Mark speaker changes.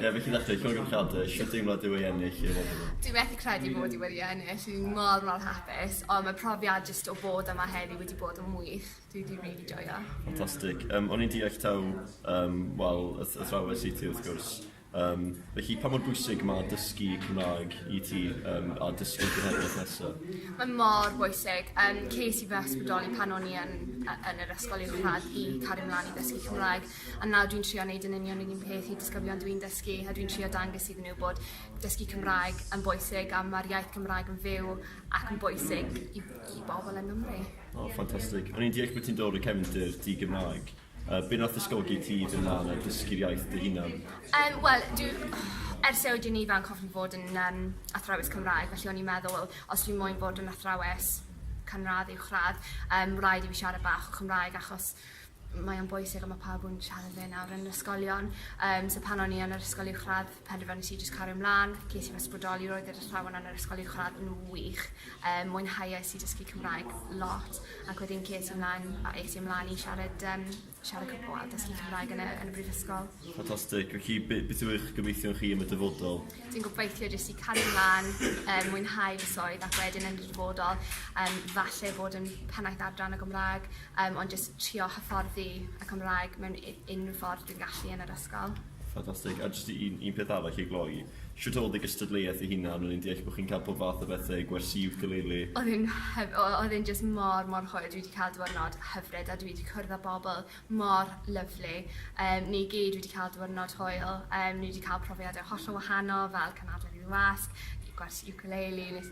Speaker 1: Ie, beth chi'n ddathlu, Cymru Gymchadau, siwr deimlo dyw ei ennill i fod yma? Dwi methu credu bod i
Speaker 2: wedi ennill, dwi'n mor mor hapus, ond mae profiad jyst o fod yma heddi wedi bod yn wych, dwi wedi rili joio. Ffantastig. Um, o'n
Speaker 1: i'n deall taw, um, wel, y athrawes i ti wrth gwrs. Um, felly, pa mor bwysig mae dysgu Cymraeg i ti um, a dysgu genhedlaeth nesaf? Mae mor
Speaker 2: bwysig. Um, ces i fy ysbrydoli pan o'n i yn, yn yr ysgol uwchradd i cario mlaen i ddysgu Cymraeg. A nawr dwi'n trio wneud yn union yr un peth i disgyblion dwi'n dysgu a dwi'n trio dangos iddyn nhw bod dysgu Cymraeg yn bwysig a ma'r iaith Gymraeg yn fyw ac yn bwysig i i bobl yng Nghymru. O ffantastig.
Speaker 1: O'n i'n deall bod ti'n dod o cefndir di-Gymraeg. Yy be' nath ysgogi ti i fyn' lan a dysgu'r iaith dy hunan? Yym wel dwi
Speaker 2: ers i oeddwn i'n ifanc hoffwn fod yn yym athrawes Cymraeg felly o'n i'n meddwl wel os dwi moyn bod yn athrawes canradd uwchradd yym raid i fi siarad bach o Cymraeg achos mae o'n bwysig a ma' pawb yn siarad fe nawr yn ysgolion yym so pan o'n i yn yr ysgol uwchradd penderfynais i jyst cario mlan ges i fy ysbrydoli roedd yr athrawon yn yr ysgol uwchradd yn wych yym mwynhauais i dysgu Cymraeg lot ac wedyn ces i mlan a es i mlan i siarad yym siarad Cym- wel dysgu Cymraeg yn y yn y brifysgol. Ffantastic felly
Speaker 1: be' beth yw eich gobeithion chi am y dyfodol? Dwi'n gobeithio jyst
Speaker 2: i cario mlan yym mwynhau fy swydd ac wedyn yn y dyfodol yym falle bod yn pennaeth adran y Gymra'g Yym ond jyst trio hyfforddi y Cymraeg mewn u- unrhyw ffordd dwi'n gallu yn yr ysgol. Ffantastig. A jyst
Speaker 1: un un peth arall i gloi. Shwt odd y gystadleuaeth ei hunan? O'n i'n deall bo' chi'n ca'l pob fath o bethe, gwersi iwcalili. Odd e'n hyf- o-
Speaker 2: odd e'n jyst mor mor hwyl dwi 'di ca'l diwyrnod hyfryd a dwi 'di cwrdd â bobol mor lyfli yym ni gyd wedi ca'l diwyrnod hwyl yym ni 'di ca'l profiade hollol wahanol fel cymharu rhyw wasg, gwersi iwcalili nes